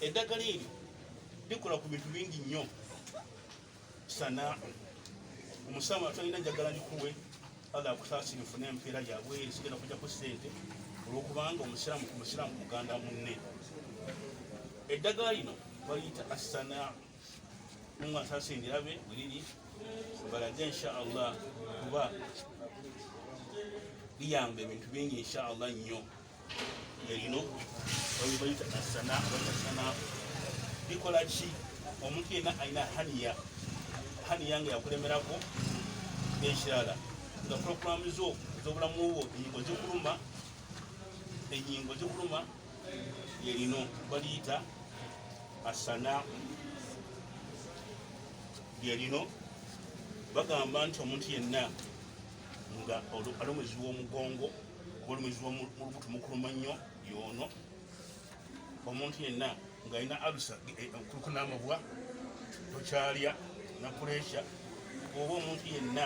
eddagala eri likola ku bintu bingi nnyo sana omusamu atalina njagala likuwe ala akusasira nfuna empeera yabweeri sigenda kujja ku sente olwokubanga omusiramu ku musiramu muganda munne eddagala lino baliyita asana Mungu asasingira be buliri balaje insha Allah kuba biyamba ebintu bingi insha Allah nnyo erino babibayita asana batasana bikola ki omuntu yenna alina haniya haniya nga yakulemerako n'ekirala nga pulogulaamu zo ez'obulamu bwo enyingo zikuluma enyingo zikuluma yerino baliyita asana lyerino bagamba nti omuntu yenna nga ali omwezi w'omugongo oba omwezi wolubuto mukuluma nnyo yoono omuntu yenna ng'alina alusa eh, kuluku n'amabwa tokyalya na puresha oba omuntu yenna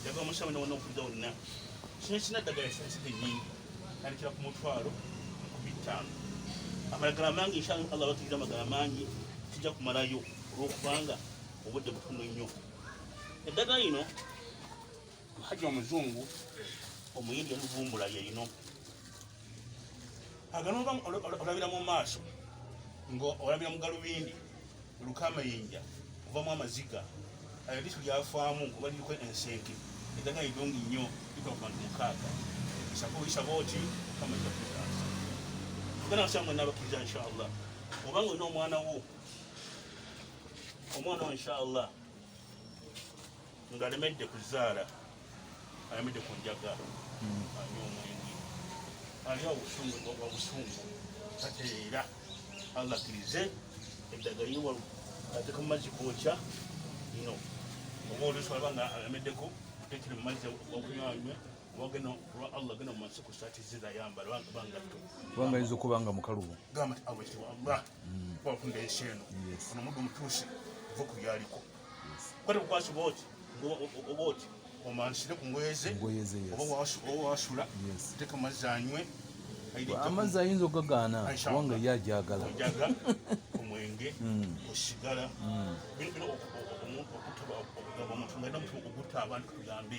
njagala omusaba ne wonna okudda wonna kino kirina ddagala esansidde nnyingi tandikira ku mutwalo ku bittaano amalagala mangi insha allah batukira amagala mangi tujja kumalayo olwokubanga obudde butono nnyo eddagala lino haji omuzungu omuyindi yaluvumbula lye lino aganoba olabira mu maaso ng'olabira mu galubindi oluka amayinja ovamu amaziga ayo lisu lyafaamu oba liriko ensenke edaga idongi nnyo likola ku bantu mukaaga isaba oyisaba oti kamaja kutaasa ogana nsanga nabakiriza inshallah obanga olina omwana wo omwana wo inshallah ngalemedde kuzaala alemedde ku njaga anywa omwenge alya obusungu obusungu ate era allah akkirize eddagala iwa ateka mu mazzi gookya no oba oluusi alaba nga alameddeko tekiri mu mazzi okunywa anywe wagena olwa allah gena mu mansiko saati zirayamba bangatto kubanga yinza okuba nga mukalubu gamba ti allah wakunda ensi eno ono muddu mutuusi va ku byaliko kwate kukwasa oba oti oba oti omansire ku ngoye ze oba wasula teeka amazzi anywe amazzi ayinza okugagaana kubanga ye ajagala omwenge osigala hmm. bino okuta omuntu nga namutu okutta abantu tugambe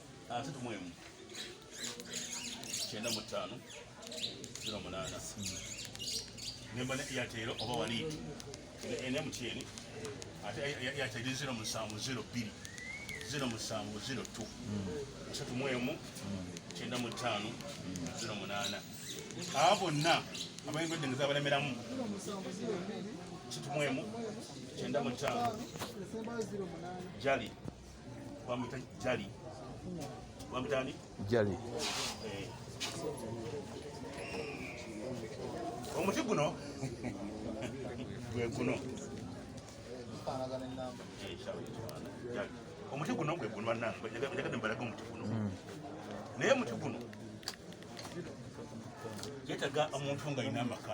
asatu ah, mwemu kyenda mu ttaano zero munaana nemba ne eyatero oba waliiti ene mutyeni ate eyateri zero musanvu zero bbiri zero musanvu zero tu asatu mwemu kyenda mu ttaano zero munaana aba bonna abayingudde nga zabalemeramu asatu mwemu kyenda mu ttaano jali Jali. Jali. Jali. Eh. omuti guno gweguno omuti guno gweguno banangeagadde mubalaga omuti guno naye omuti guno yetaga omuntu nga alina amaka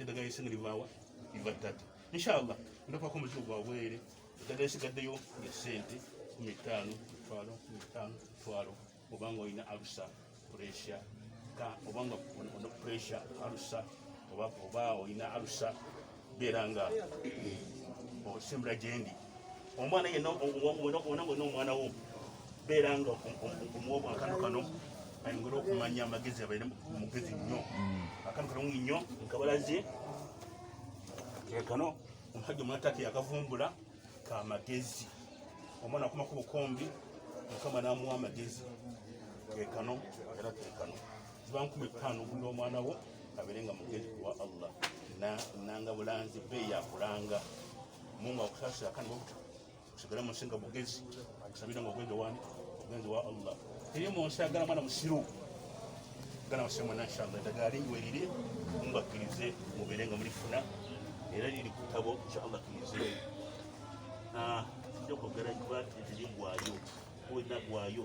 eddagala esinga livaawa liva ttatu inshallah ndapako omuzigo gwa bwere eddagala esigaddeyo ya sente kumi ttaano mitwalo kumi ttaano mitwalo obanga olina alusa puresha obanga ono puresha alusa oba olina alusa beera nga osembera gyendi omwana yenna wona wona omwana wo beera nga omuwa obwakano kano ayongere okumanya amagezi abaire mugezi nnyo akano kalungi nnyo nkabalaze kekano omusajja omwatake yakavumbula ka magezi omwana akuma ku bukombi mukama namuwa amagezi kekano era kekano ziba nkumi ttaano ogulira omwana wo abeere nga mugezi kuwa allah nanga bulanzi beeyakulanga Mungu akusasira kandi wakuta kusigala musinga bugezi akusabira nga ogwenge wani ogwenge wa Allah eri munsi agala mwana musiru gana musiru mwana inshallah edagala lingiwe liri Mungu akkirize mubere nga mulifuna era liri ku kitabo inshallah akkirize ah, kyokwogera kiba tiri gwaayo kuwena gwaayo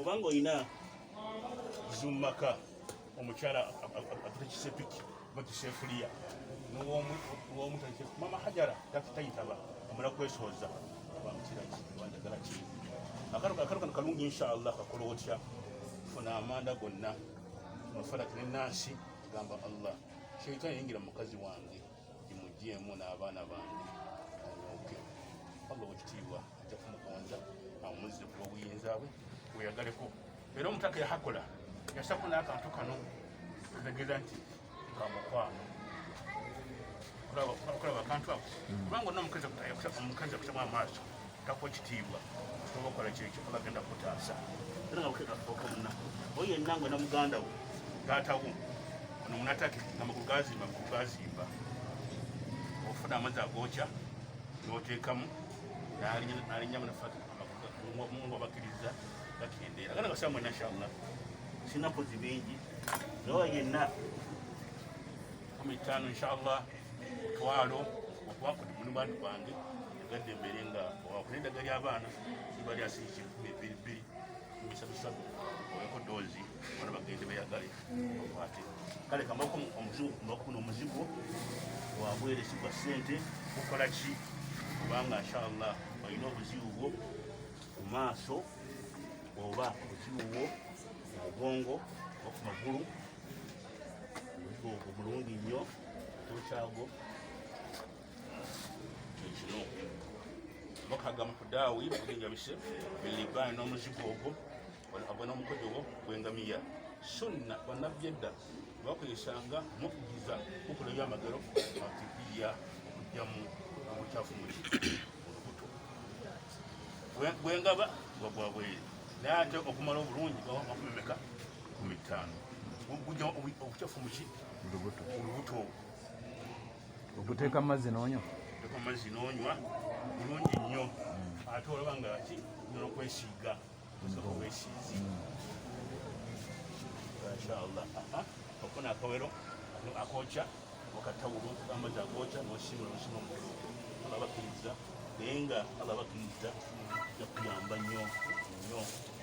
obanga olina zumaka omukyala atute kisepiki oba kisefuliya mama hajara tayitaba amala kwesooza wandagala ki akalo kano kalungi inshallah kakola otya funa amanda gonna mafarati nenansi gamba allah sheitani yingira mukazi wange imujemu n'abaana bange oke allah wekitiibwa ajja kumugonza amuzze ku lw'obuyinza bwe weyagaleko era omutaka yahakola yasako n'akantu kano ategeeza nti kamukwano okulaba akantu ako kubanga onaomukazi omukazi akusamu amaaso takwa ekitiibwa oba okola kyekyo oba agenda kutaasa era nga bukekafuuka munaku oyo yenna ngwe na muganda wo taata wo ono munatake amagulu gazimba amagulu gazimba ofuna amazzi agokya noteekamu nalinya munafati mungu abakiriza gakendeera gana gasaa mwena nshallah sina kozi bingi nawe yenna kumi ttaano nshallah twalo okuba kuli muni bantu bange egadde embeere nga wakuna eddaga ly'abaana liba lyasiiki enkumi ebbiri bbiri kumisatusatu oweko doozi bana bagende beyagale okwate kale kamako omuzungu kumakuna omuzigo wabweresi gwa ssente gukola ki kubanga inshallah olina obuzibu bwo ku maaso oba obuzibu bwo ku mugongo oba ku magulu obuzibu obwo bulungi nnyo tokyagwo ekino bakaga mu kudaawi mugenjabise bilibaani n'omuzigo ogwo agwe n'omukojo gwo gwengamiya sunna bannabbi edda bakozesanga mukugiza kukola ebyamagero matibiya okujjamu obukyafu mu lubuto gwengaba nga gwa bweru naye ate okumala obulungi gaba makumemeka kumi ttaano gujja obukyafu muki olubuto okuteeka amazzi n'onywa okuteeka amazzi n'onywa bulungi nnyo hmm. ate olaba nga ki nokwesiiga osooka wesiizi inshallah okufuna akawero akokya okatawulu amazzi agokya nosimula nosima omukulu aba bakiriza naye nga aba bakiriza jakuyamba nnyo nnyo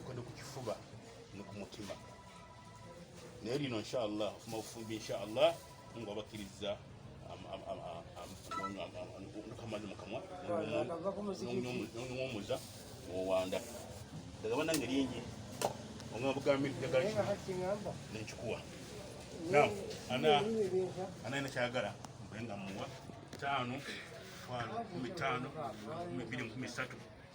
Mkono kukifuba ni kumutima. Naye lino inshallah ofuma ofumbi inshallah Mungu abakiriza amazi mukamwa nomuza owanda ndagaba nange lingi omwa bugambi nekikuwa anaina kyagala mbenga muwa tano tano kumi tano kumi mbili kumi satu